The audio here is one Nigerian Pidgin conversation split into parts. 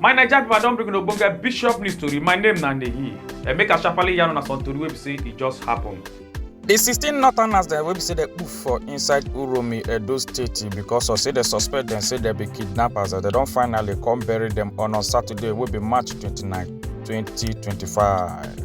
My Naija people, I don bring una ogbonge bishop news tori. My name na Nehi. And make I sharply yarn una some tori wey be say e just happen. di 16 northerners dem wey be say dem put for inside uromi edo state because of say dem suspect dem say dem be kidnappers and dem don finally come bury dem on on saturday wey be march 29 2025.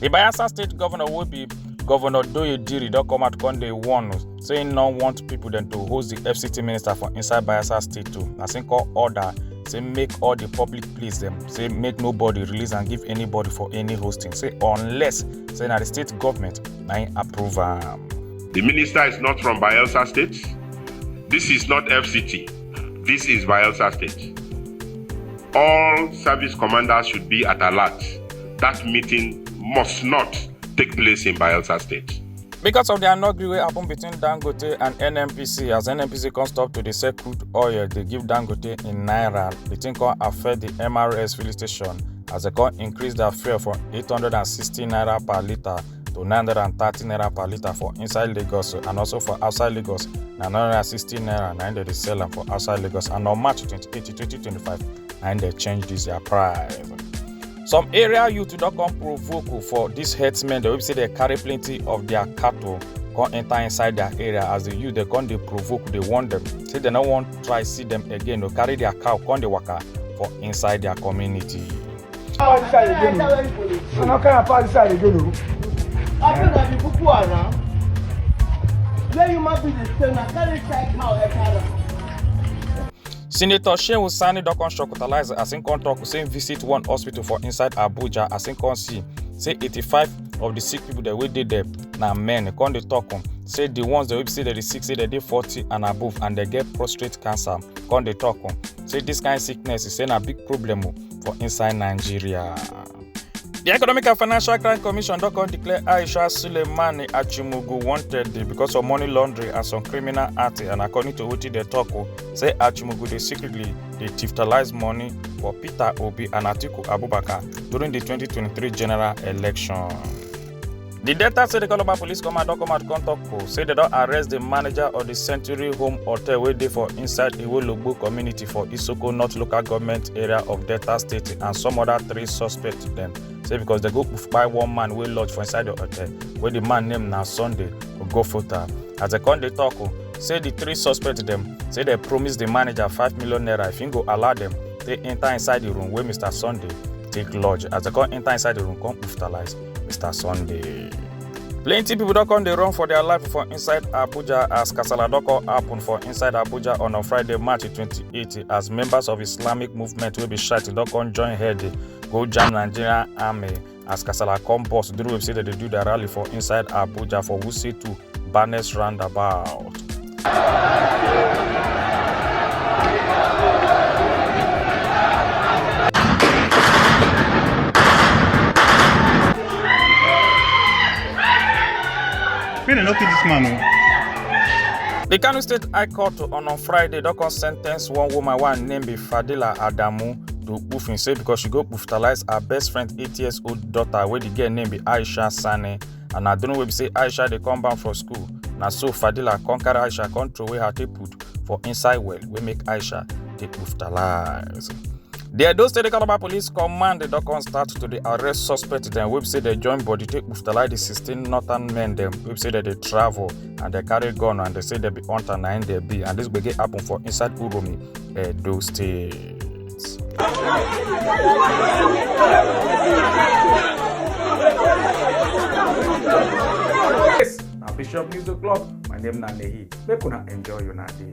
di bayelsa state governor wey be governor doye diri don come out come dey warn say im no want pipo dem to host di fct minister for inside bayelsa state too na im call order say make all di public place dem say make nobody release and give anybody for any hosting say unless say na di state government na im approve am. di minister is not from bayelsa state dis is not fct dis is bayelsa state all service commanders should be at alert. that meeting must not take place in Bayelsa State. Because of the anogri wey happen between Dangote and NNPC as NNPC come stop to dey sell crude oil dey give Dangote in naira, the thing come affect the MRS filling station as they come increase their fuel from 860 naira per litre to 930 naira per litre for inside Lagos and also for outside Lagos na 960 naira na im dem dey sell am for outside Lagos and on March 28, 2025 na im dem change this their price. some area youth don come provoke for dis herdsmen dem wey be say dem carry plenty of their cattle come enter inside their area as the youth dey come dey provoke dey warn them say dem no wan try see them again o carry their cow come dey waka for inside their community. Power this side again o. I no carry am power this side again o. After na the Boko Haram, where human being dey stay na carry child cow enter am. senator shehu sani don come shocktalize as im come tok say im visit one hospital for inside abuja as im come see say 85 of di sick pipo dem wey dey there na men come dey tok um, say di ones dem wey be say dem dey sick say dem dey 40 and above and dem get prostate cancer come dey tok um, say dis kain sickness e say na big problem um, for inside nigeria. di economic and financial crime commission don come declare aisha suleimani achimugu wanted because of money laundering and some criminal acts and according to wetin dem tok o say achimugu dey secretly dey tiftalize money for peter obi and atiku abubakar during di 2023 general election. di delta state calabar police command don come out come tok o say dem don arrest di manager of di century home hotel wey dey for inside iwologbo community for isoko north local government area of delta state and some oda three suspects dem say becos dem go kpai one man wey lodge for inside di hotel wey di man name na sunday ogofota as dem come dey tok o say di three suspects dem say dem promise di manager five million naira if im go allow dem take enta inside di room wey mr sunday take lodge as dem come enta inside di room come kpuftalise. Mr. Sunday. Plenty people don come dey run for their life for inside Abuja as kasala don come happen for inside Abuja on a Friday, March 28 as members of Islamic movement wey be Shiite don come join head go jam Nigerian army as kasala come burst during wey be say dem dey do their rally for inside Abuja for Wuse 2 Barnes Roundabout. May dem no kill this man o. The Kano State High Court on on Friday don come sentence one woman wey her name be Fadila Adamu to Kpufin say because she go kpuftalize her best friend eight years old daughter wey the girl name be Aisha Sani and na during wey be say aisha dey come back for school na so fadila come carry aisha come throw away her tape put for inside well wey make aisha dey hospitalize. di edo state calabar police command don come start to dey arrest suspect dem wey be say dem join body take hospitalize di sixteen northern men dem wey be say dem dey travel and dem carry gun and dem say dem be hunter na im dem be and dis gbege happen for inside uromi edo state. Yes, na Bishop News O'Clock. My name na Nehi. Make una enjoy una day.